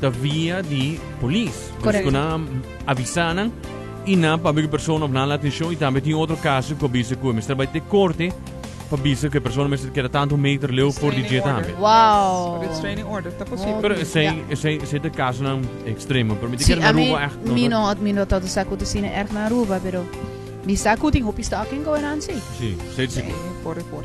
Ta via di polis. Correct. Dus cu nan a avisa nan y nan pabia cu e persona of nan la atencion y tambe tin otro caso cu a bisa cu e mester bay te corte pa bisa cu e persona mester keda tanto meter leu for di dje tambe. Wow. Restraining order ta posibel. Pero Oké, esey, ja. esey, esey ta casonan extremo. Pero mi te Sí, kere a na mi, Aruba echt. no, mi no. no, mi no tanto sa cu ta sina erg na Aruba, pero mi sa cu tin hopi stalking going on, sí. Sí, esey ta Sí, sigur. por e por.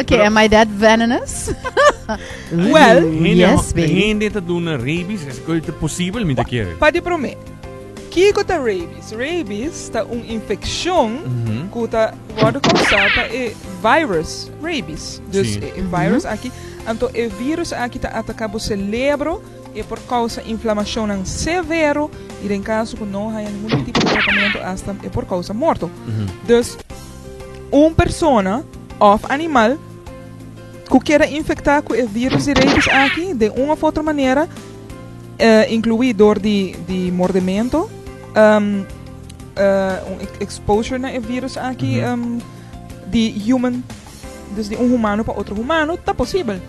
Oké, am I that venomous? Well, yes, baby. Hindi te doen rabies, es que te posible, mi te quiere. Pa de prome, Kiko ta rabies? Rabies ta un infección mm -hmm. ta worden causado pa e virus rabies. Dus sí. e, e virus mm -hmm. aquí, anto e virus aquí ta ataca bo cerebro. E por kousa inflamashonnan severo i den kaso ku no haya ningún tipo di tratamentu asta e por kousa morto. Dus un persona òf animal ku keda infektá ku e vírus di rabis aki den un òf otro manera, inkluí dor di mordementu, un exposure na e vírus aki di human. Dus di un humano pa otro humano ta posibel.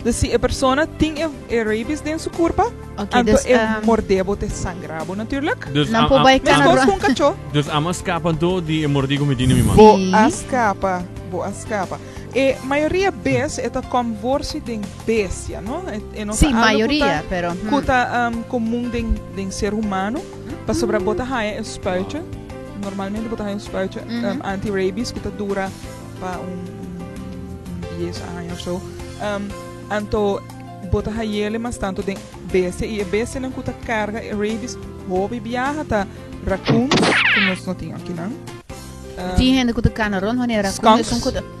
Dus si e persona tin e e rabies den su kurpa, Ok, anto dus, e ehm, mordé bo ta e sangrá bo natuurlik. Dus Nan a- por a- bai a- Meskos Canadá. ku un kachó. Dus amo a skapa anto di e mordí ku mi tin den mi man. Bo Sí. a skapa, bo a skapa. E mayoria bes e ta kòm worsi den bestia, no? E e no ta Sí, algo ku mayoria, ta pero, ku hmm. ta ehm komun den den ser humano. Pasobra bo ta haña e spuitje, normalmente bo ta haña un spuitje anti-rabies ku ta dura pa un dies aña òf so. Anto bo ta hañele mas tantu den bestia i e bestianan ku ta karga e rabies hopi biaha ta rakuns ku nos no tin akinan. Tin hende ku ta kana rònt wanneer rakun.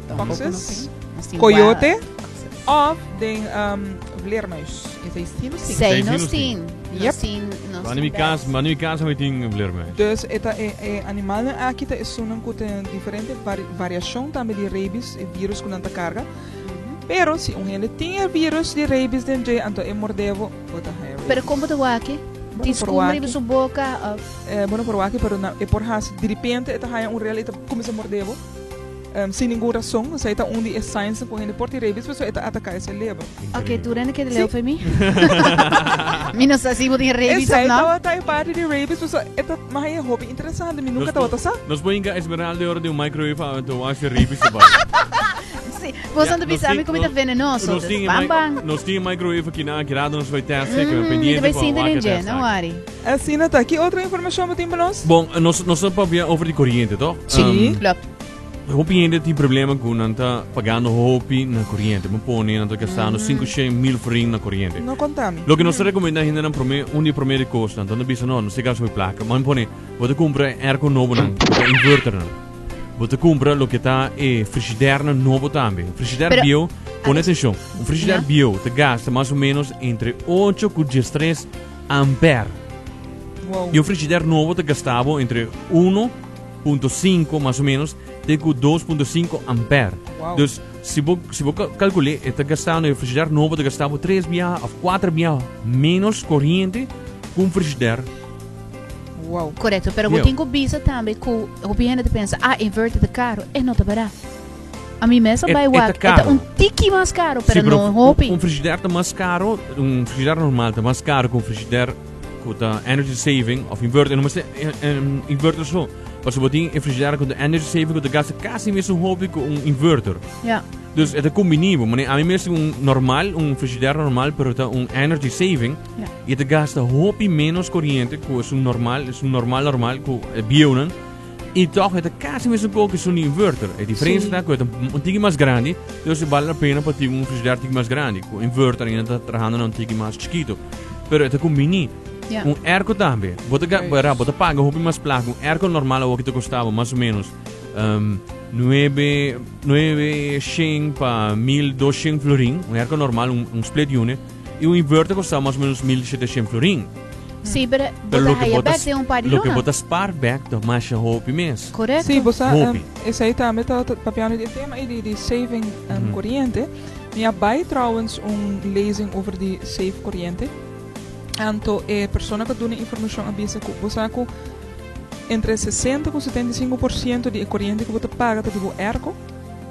Foxes, koyote òf den vleermuis. Sei nos tin. Mano mi kas, mano mi kas hopi tin vleermuis. Dus e ta e animalnan aki ta esunnan ku ta diferente variashon tambe di reibis, e virus ku nan ta karga. Pero si un hende tin e virus di reibis den dje, anto e mord'é bo, bo ta haña reibis. Pero kon bo ta wak e? Tin skumber riba su boka òf? Bo no por wak e, pero e por hasi diripente e ta haña un rel i ta kuminsá mord'é bo. Sin ningun rason, so e ta un di e signsnan ku hende por tin rabies, pasobra e ta ataka e selebro. Oke, tur hende keda leu for mi. Mi no sa si bo tin rabies òf nò. Esei tabata e parti di rabies, pasobra e ta mas haya hopi interesante, mi nunka tabata sa. Nos por hinka Esmeralda e ora den un microwave a ta wash e rabies su bai. Si, boso anto bisa mi ku mi ta venenoso, dus ban ban. Nos tin e microwave aki nan, aki rato nos bai testa e, kibera pendiente pa wak e testa aki. Mi ta bai sinti den dje, no worry. Asina ta, ki otro informashon bo tin pa nos? Bon, nos ta papia over di koriente, tòg? Si, klopt. Hopi hende tin problema cu nan ta pagando hopi na coriente. Bo pone nan ta gastando cinco shen mil forin na coriente. No conta mi. Loke nos ta recomenda hendenan prome, un di prome di cos nan ta bisa no, no siga ashopi placa. Bo pone, bo ta cumpra e airco nobonan cu ta inverternan. Bo ta cumpra loke ta e frigidernan nobo tambe. Un frigider Pero, bieu, pone atencion, un frigider Ya. bieu ta gasta mas o menos entre ocho cu diestres amper. Wow. Y un frigider nobo ta gasta bo entre uno punto sinku mas o menos te ku dos punto sinku ampèr. Dus si bo si bo kalkul'é e ta gastá un frigider nobo ta gastá bo tres bia òf kuater bia ménos koriente ku un frigider Wow. Korekto, pero bo tin ku bisa tambe ku hopi hende ta pensa, ah, inverter ta karo. E no ta barat. Ami mes a bai wak, e ta un tiki mas karo, pero no hopi. Un frigider ta mas karo, un frigider normal ta mas karo ku un frigider Cu ta energy saving of inverter. No mester um, inverter so. Paso bo tin refrigerator cu ta energy saving cu ta gasta casi mesmo hopi cu un inverter. Ja. Dus het combinebo. Maar a mi meeste un normal, un frigidaire normal, pero ta un energy saving. Ja. Je te gasta hopi menos corriente, ku is un normal, is un normal normal, ku bieun I tòg e ta kasi mesun kon ki su un inverter. E diferensia ta ku e ta un tiki mas grandi, dus e bal la pena pa tin un frigider tiki mas grandi. Ku inverter ainda ta trahando na un tiki mas chikitu. Pero e ta ku mini. Ya. Un airco tambe. Bo ta ga- Right. ra, bo ta paga hopi mas plaka. Un airco normal awor ki ta kosta bo mas o menos ehm, nuebe, nuebe shen pa mil dos shen florin. Un airco normal, un, un split unit. I un inverter kosta mas o menos mil sheteshent florin. Sí, pero bo ta haya bek den un par di luna. Loke bo ta spaar bek ta masha hopi mes. Correcto. Sí, bosa, hopi. Um, esai tambe ta, ta papian di tema i di, di saving um, mm -hmm. corriente. Mi a bai trouwens un lezing over di save corriente. Anto e persona ka duna informacion a bisa ku bosa ku entre 60 ku 75% di e corriente ku bo ta paga ta di bo erko.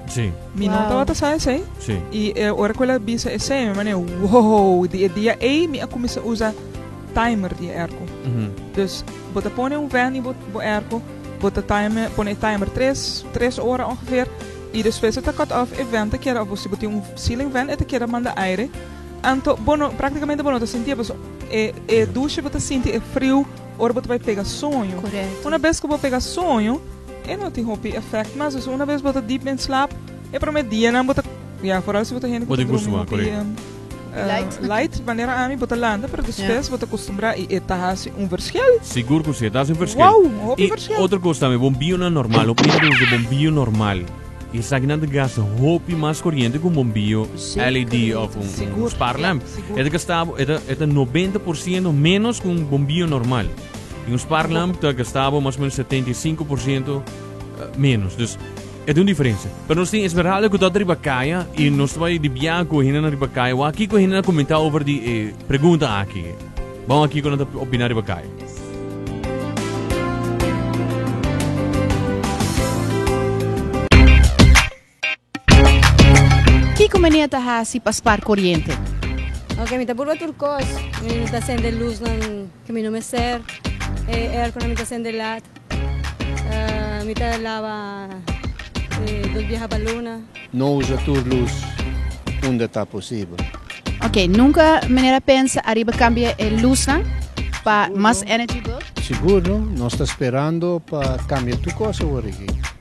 Sí. Mi no tabata sa esei. Sí. Y e ora cu el a bisa esei, mi mane, wow, di e dia ei mi a cuminsa usa timer di e airco. Mm -hmm. Dus, bo ta pone un van y bo, bo airco, bo ta timer, pone e timer tres, tres ora ongeveer, y despues ta cut off, e van ta keda, of si bo tin un ceiling van, e ta keda manda aire. Anto, bo no, prácticamente bo no ta sinti, paso e, e douche bo ta sinti e frio ora bo ta bai pega soño. Correcto. Una vez cu bo pega soño, E no tin hopi efect mas dus una bes bo ta deep den slap e prome dianan bo ta ya foral si bo ta hende ku ta drumi hopi light manera ami bo ta lanta pero despues bo ta kostumbra i e ta hasi un verschil sigur ku si e ta hasi un verschil wou hopi verschil i otro kos tambe bombionan normal hopi hende ta usa bombio normal i esakinan ta gasta hopi mas koriente ku un bombio LED of un spark lamp e ta gasta e ta nobenta por siento menos ku un bombio normal. En un sparklamp ta gasta bo mas o menos 75 por ciento menos. Dus e ta un diferensia. Pero nos tin Esmeralda ku ta ota riba kaya i nos ta bai di biaha ku hende na riba kaya. Wak kiko hende na komentá over di e pregunta aki. Ba'w wak kiko nan ta opiná riba kaya. Kiko manera ta hasi pa spar koriente? Ok, mi ta purba tur kos. Mi no ta sende lusnan ku mi no mester. E airkonan mi ta sende lat. Mi ta laba e dos biaha pa luna. No usa tur lus unda ta posibel. Ok, nunka manera a pensa ariba kambia e lusnan pa mas energy bill? Sigur no. Nos ta sperando pa kambia tur kos aworiki.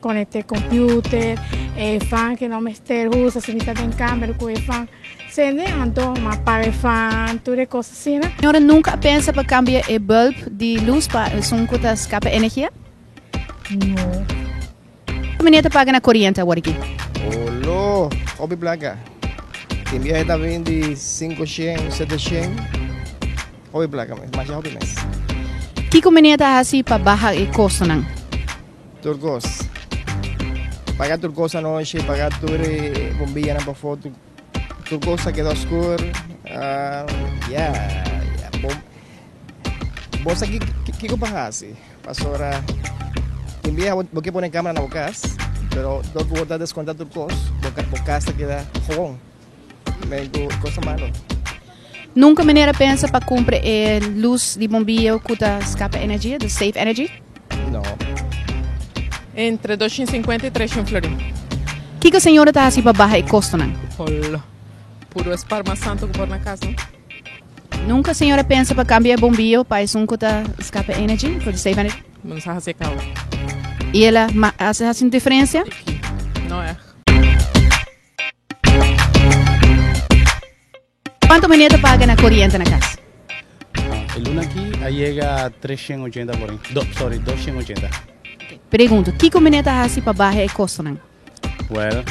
Konekte komputer, e fan ke no mester usa si mi ta den kamer ku e fan. Sende e anto, mi a paga e fan, tur e kos asina. Señora nunka a pensa pa kambia e bulb di lus pa esun ku ta skapa energia? No. Ki manera ta paga na koriente awor aki? Olo, hopi plaka. Tin biahe ta bin di sinku shen, sete shen. Hopi plaka mes, masha hopi mes. Kiko manera ta hasi pa baha e kostonan? Tur kos. Paga tur kos anochi, paga tur e bombianan pa foto. Tur kos ta keda oskur. Uh, ya, ya, bom. Bo sa ki, ki, ki ko pa hasi. Pasora, tin bia bo ke pone kamera na bo kas, pero dor bo ta deskonta tur kos, bo, bo kas ta keda gewoon. Nunca mi nera pensa pa cumpra e luz di bombio cu ta scapa energia, the safe energy. Entre doscind cincuenta y trescind florin. Kico señora ta haci pa baha e costonan? Holo. Puro es par mas santo cu por na cas, no? Nunca señora pensa pa cambia e bombio pa esun cu ta scapa energy, for the safe energy. Bo no sa haci e causa. Y el a haci un diferencia? Tiki. No ech. Cuanto meneer ta paga na coriente na cas? El luna aki a yega 380 por aña. Do, sorry, 280. Pregunto, kiko meneer ta hasi pa baha e costonan? Well,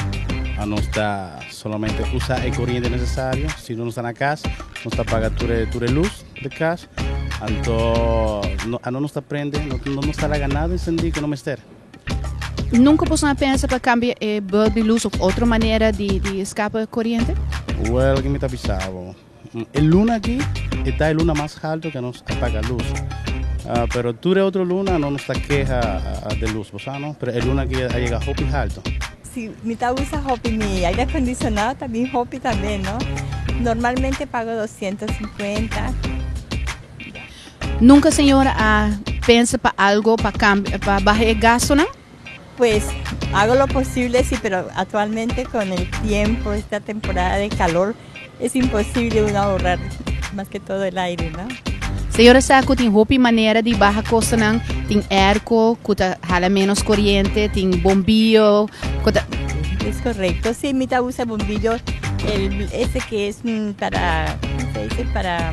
a nos ta solamente usa e corriente necesario. Si no nos ta na cas, nos ta paga tur e, tur e luz de cas. Anto, no, a no nos ta prende, no, no nos ta laga nada encendí que no mester. Nunca boso a pensa pa cambia e bulb di luz of otro manera di di escapa coriente? Well, kico mi ta bisa abo? E luna aki e ta e luna mas halto cu nos a paga luz. Pero tur e otro luna no nos ta keha den luz, bo sa no? Pero e luna aki a yega hopi halto. Si, mi ta usa hopi mi aire acondicionado ta bin hopi tambe, no? Normalmente pago doscientos cincuenta. Nunka señor a pensa pa algo pa cambia pa baha e gastonan? Pues hago lo posible si pero actualmente con el tiempo esta temporada de calor es imposible uno ahorrar mas que todo el aire no. Señora sa cu tin hopi manera di baha costonan, tin airco cu ta hala menos coriente, tin bombillo cu ta. Es correcto si mi ta usa bombillo el ese que es para como se dice para.